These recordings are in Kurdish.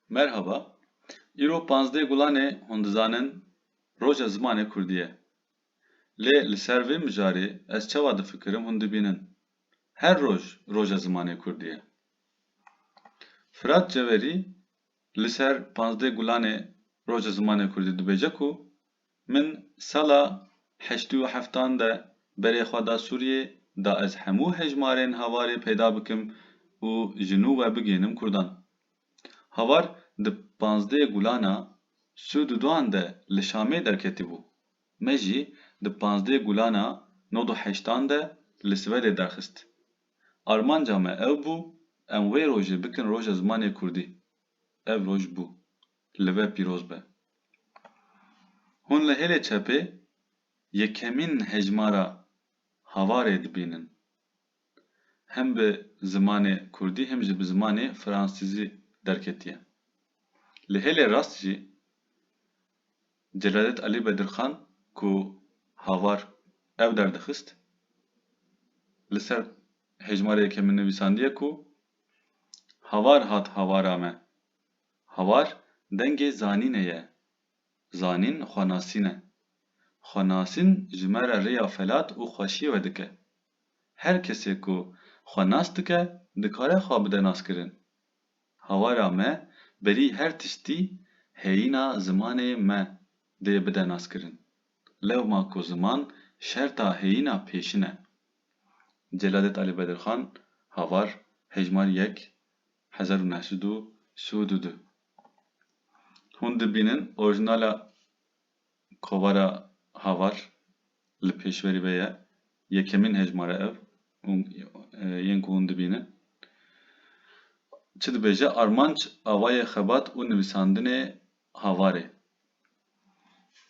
Merhaba, îro panzdeh gulanê hûn dizanin roja zimanê kurdî ye. Lê li ser vê mijarê ez çawa difikirim hûn dibînin. Her roj roja zimanê kurdî ye. Firat Ceverî li ser panzdeh gulanê roja zimanê kurdî dibêje ku Min sala heşt û heftan de berê xwe da Sûriyê da ez hemû hejmarên havarê peyda bikim û ji nû we bigihînim Kurdan. Havar di pazdeh gulana Sûduduan de li Şamê derketibû. Me jî di pazdeh gulana nod û heştan de li Swedê derxist. Armanca me ew bû em wê rojê bikin roja zimanê Kurdî. Ev roj bû. Li we pîroz be. Hûn li hêlê çepê yekemîn hejmara Havarê dibînin. Hem bi zimanê kurdî hem jî bi zimanê fransîzî derketiye. Li hêlê rast jî Celadet Alî Bedirxan ku Havar ew derdixist li ser hejmara yekemîn nivîsandiye ku, Havar hat havara me. Havar dengê zanînê ye. Zanîn xwe nasîn e. Xwe nasîn ji me re rêya felat û xweşiyê we dike. Her kesê ku xwe nas dike dikare xwe bide naskirin. Havara me berî her tiştî heyîna zimanê me dê bide naskirin. Lewma ku ziman şerta heyîna pêşin e. Celadet Ali Bedirxan Havar Hejmar yek hezar û neh sed û sud û du Hûn dibînin orîjinala kovara Havar li pêşverî ve ye Yekemîn hejmar e ev yên ku hûn dibînin çi dibêje Armanc Awayê xebat û nivîsandinê Havarê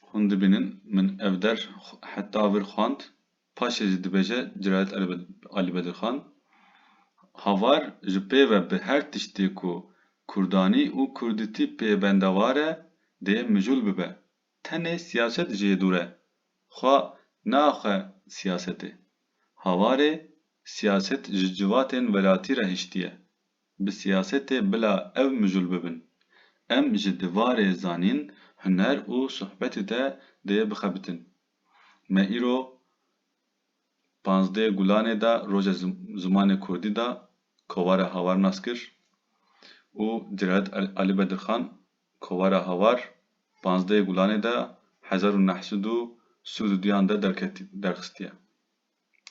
Hûn dibînin min ev der heta vir xwend Paşê jî dibêje Ciraet Alî Bedirxan, Havar ji pê ve bi her tiştê ku kurdanî û kurdîtî pê bendewar e dê mijûl bibe. Tenê siyaset jê dûr e. Xwe neaxe siyasetê. Havarê siyaset ji civatên welatî re hiştiye. Bi siyasetê bila ev mijûl bibin. Em ji divarê zanîn, huner û sohbetê de dê bixebitin. Me îro Panzdeh Gulanê de Roja Zimanê Kurdî de kovara Hawar nas kir û Celalet Ali Bedirxan kovara Hawar Panzdeh Gulanê de hezar û neh sed û sûd û duyan de derxistîye.